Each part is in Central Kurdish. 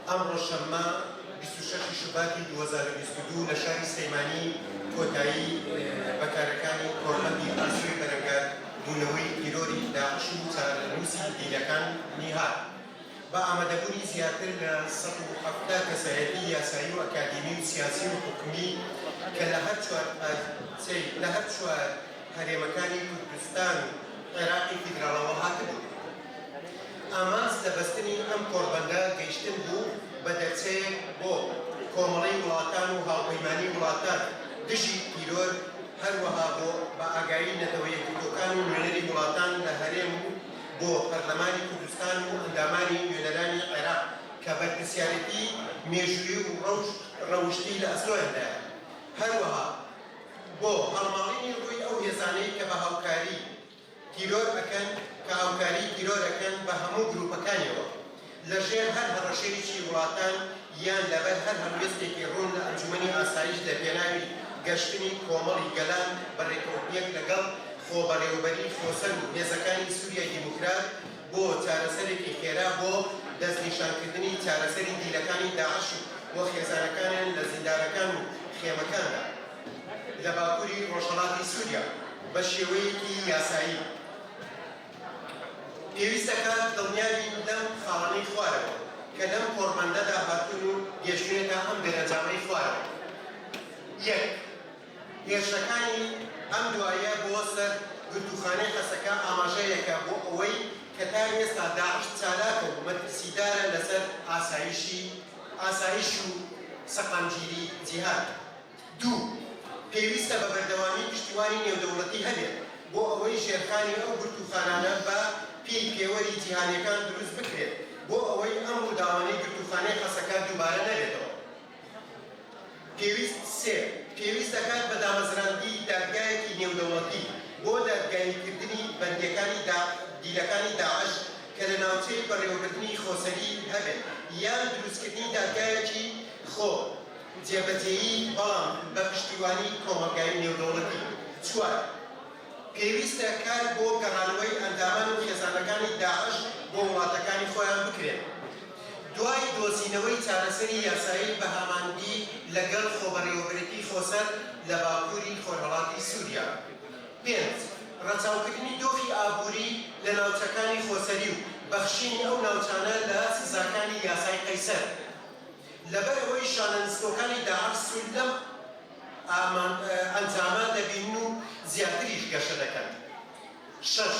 ئەمڕۆ شەممە بیست و شەش شوباتی دوو هەزار و بیست و دوو لە شاری سلێمانی کۆتایی بە کارەکانی کۆڕبەندی ئاسۆی بەرەنگار بوونەوەی تیرۆری داعش و چارەنووسی دیلەکانی هات. بە ئامادەبوونی زیاتر لە سەد و حەفتا کەسایەتی یاسایی و ئەکادیمی و سیاسی و حکومی کە لە هەر چوار پارچەی لە هەر چوار هەرێمەکانی کوردستان و عێراقی فیدراڵەوە هاتبوون. ئامانج لە بەستنی ئەم کۆڕبەندە گەیشتن بوو بە دەرچەیەک بۆ کۆمەڵەی وڵاتان و هاوپەیمانی وڵاتان دژی تیرۆر، هەروەها بۆ بە ئاگایی نەتەوە یەکگرتووەکان و نوێنەری وڵاتان لە هەرێم و بۆ پەرلەمانی کوردستان و ئەندامانی نوێنەرانی عێراق کە بەرپرسیارێتی مێژوویی و ڕەوشت ڕەوشتی لە ئەستۆیاندایە، هەروەها بۆ هەڵماڵینی ڕووی ئەو هێزانەی کە بە هاوکاری. تیرۆر ئەکەن کە هاوکاری تیرۆر ئەکەن بە هەموو گروپەکانیەوە لە ژێر هەر هەڕەشەیەکی وڵاتان یان لەبەر هەر هەڵوێستێکی ڕوون لە ئەنجومەنی ئاسایش لە پێناوی گەشتنی کۆمەڵی گەلان بە ڕێکەوتنێک لەگەڵ خۆبەڕێوەبەری خۆسەر و هێزەکانی سوریای دیموکرات بۆ چارەسەرێکی خێرا بۆ دەستنیشانکردنی چارەسەری دیلەکانی داعش و خێزانەکانیان لە زیندانەکان و خێمەکاندا. لە باکوری ڕۆژهەڵاتی سوریا بە شێوەیەکی یاسایی پێویست دەکات دڵنیابین لەم خاڵانەی خوارەوە کە لەم کۆڕبەندەدا هاتوون و گەیشتوونەتە ئەم دەرەنجامەی خوارەوە یەک هێرشەکانی ئەم دوایە بۆ سەر گرتووخانەی حەسەکە ئاماژەیەکە بۆ ئەوەی کە تا ئێستا داعش چالاکە و مەترسیدارە لەسەر ئاسایشی ئاسایش و سەقامگیری جیهان. دوو. پێویستە بە بەردەوامی پشتیوانی نێودەوڵەتی هەبێت بۆ ئەوەی ژێرخانی ئەو گرتووخانانە بە پێی پێوەری جیهانیەکان دروست بکرێت بۆ ئەوەی ئەم ڕووداوانەی گرتووخانەی حەسەکە دووبارە نەبێتەوە. پێویست سێ. پێویست دەکات بە دامەزراندی دادگایەکی نێودەوڵەتی بۆ دادگایی کردنی بەندیەکانی دا دیلەکانی داعش کە لە ناوچەی بەڕێوەبردنی خۆسەری هەبێت یان دروست کردنی دادگایەکی خۆ جێبەجێیی بەڵام بە پشتیوانی کۆمەڵگای نێودەوڵەتی. چوار. پێویستە کار بۆ گەڕانەوەی ئەندامان و خێزانەکانی داعش بۆ وڵاتەکانی خۆیان بکرێت دوای دۆزینەوەی چارەسەری یاسایی بە هامانگی لەگەڵ خۆبەڕێوەبرێتی خۆسەر لە باکووری خۆرهەڵاتی سووریا. پێنج. ڕەچاوکردنی دۆخی ئابووری لە ناوچەکانی خۆسەری و بەخشینی ئەو ناوچانە لە سزاکانی یاسای قەیسەر. لەبەر ئەوەی شانە نسکۆکانی داعش سوود لەم ئەنجامە دەبینن و زیاتریش گەشە دەکەن. شەش،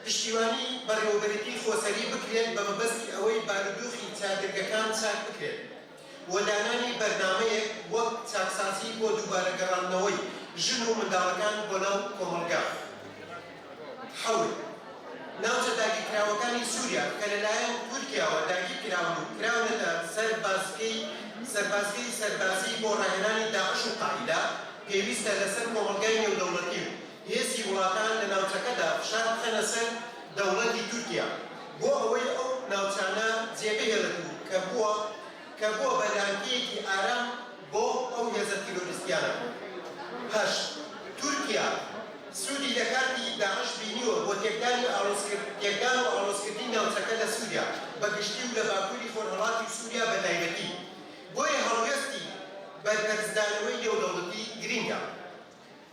پشتیوانی بەڕێوەبەرێتی خۆسەری بکرێت بە مەبەستی ئەوەی بارودۆخی چادرگەکان چاک بکرێت و دانانی بەرنامەیەک وەک چاکسازی بۆ دووبارە گەڕاندنەوەی ژن و منداڵەکان بۆ ناو کۆمەڵگە. حەوت ناوچە داگیرکراوەکانی سوریا کە لەلایەن تورکیاوە داگیرکراون و کراونەتە سەر بازگەی سەربازگەی سەربازی بۆ ڕاهێنانی داعش و قاعیدە، پێویستە لەسەر کۆمەڵگای نێودەوڵەتی و هێزی وڵاتان لە ناوچەکەدا فشار بخەنە سەر دەوڵەتی تورکیا بۆ ئەوەی ئەو ناوچانە جێبهێڵێت و کە بووە کە بووە بە لانکەیەکی ئارام بۆ ئەو هێزە تیرۆریستیانە. هەشت، تورکیا سوودی لە کارتی داعش بینیوە بۆ تێکدانی ئاڵۆزکرد تێکدان و ئاڵۆزکردنی ناوچەکە لە سووریا بە گشتی و لە باکووری خۆرهەڵاتی و سووریا بە تایبەتی، بۆیە هەڵوێستی بەرپەرچدانەوەی نێودەوڵەتی گرینگە.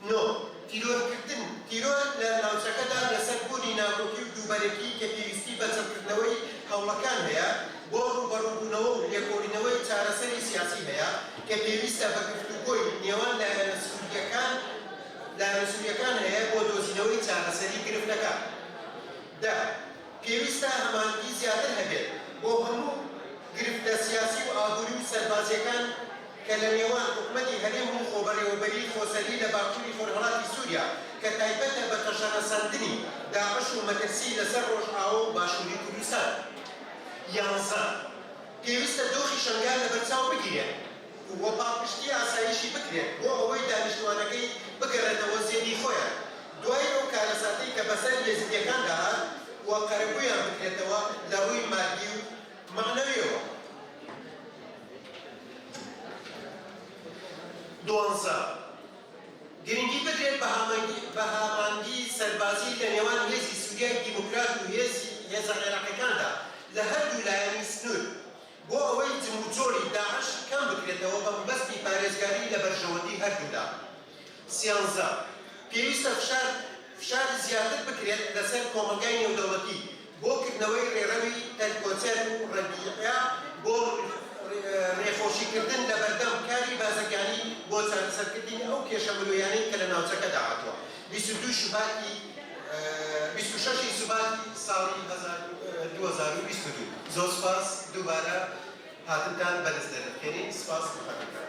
نۆ، تیرۆرکردن، تیرۆر لە ناوچەکەدا لەسەر بوونی ناکۆکی و دووبەرەکی کە پێویستی بە چڕکردنەوەی هەوڵەکان هەیە بۆ ڕووبەڕووبوونەوە و لێکۆڵینەوەی چارەسەری سیاسی هەیە کە پێویستە بە گفتوگۆی نێوان لایەنە سورییەکان لایەنە سورییەکان هەیە بۆ دۆزینەوەی چارەسەری گرفتەکە. دە، پێویستە هەماهەنگی زیاتر هەبێت بۆ هەموو گرفتە سیاسی و ئابووری و سەربازییەکان، کە لە نێوان حکومەتی هەرێم و خۆبەڕێوەبەریی خۆسەری لە باکووری خۆرهەڵاتی سووریا کە تایبەتە بە تەشەنەسەندنی داعش و مەترسیی لەسەر ڕۆژئاوا و باشووری کوردستان. یانزە، پێویستە دۆخی شەنگال لەبەرچاو بگیرێت و پاڵپشتیی ئاسایشی بکرێت بۆ ئەوەی دانیشتووانەکەی بگەڕێتەوە زێدی خۆیان دوای ئەو کارەساتەی کە بەسەر ئێزیدییەکاندا هات و قەرەبوویان بکرێتەوە لە ڕووی ماددی و مەعنەویەوە دوانزە. گرنگی بدرێت بە هامەنگی بە هامانگی سەربازی لە نێوان هێزی سوریای دیموکرات و هێزی هێزە عێراقیەکاندا لە هەردوو لایەنی سنوور بۆ ئەوەی جموجۆڵی داعش کەم بکرێتەوە بە مەبەستی پارێزگاری لە بەرژەوەندی هەردوو لا. سیانزە. پێویستە فشار فشار زیاتر بکرێت لە سەر کۆمەڵگای نێودەوڵەتی بۆ کردنەوەی ڕێڕەوی هێلیکۆتێر و ڕەبیعە بۆ ڕێخۆشیکردن لەبەردەم کاری بازرگانی بۆ چارەسەرکردنی ئەو کێشە مرۆیانەی کە لە ناوچەکەدا هاتووە بیست و دوو شوباتی بیست و شەش ی سوباتی ساڵی هەزار و دوو هەزار و بیست و دوو زۆر سوپاس دووبارە هاتنتان بەرز دەنرخێنین سوپاس بەخاترتان.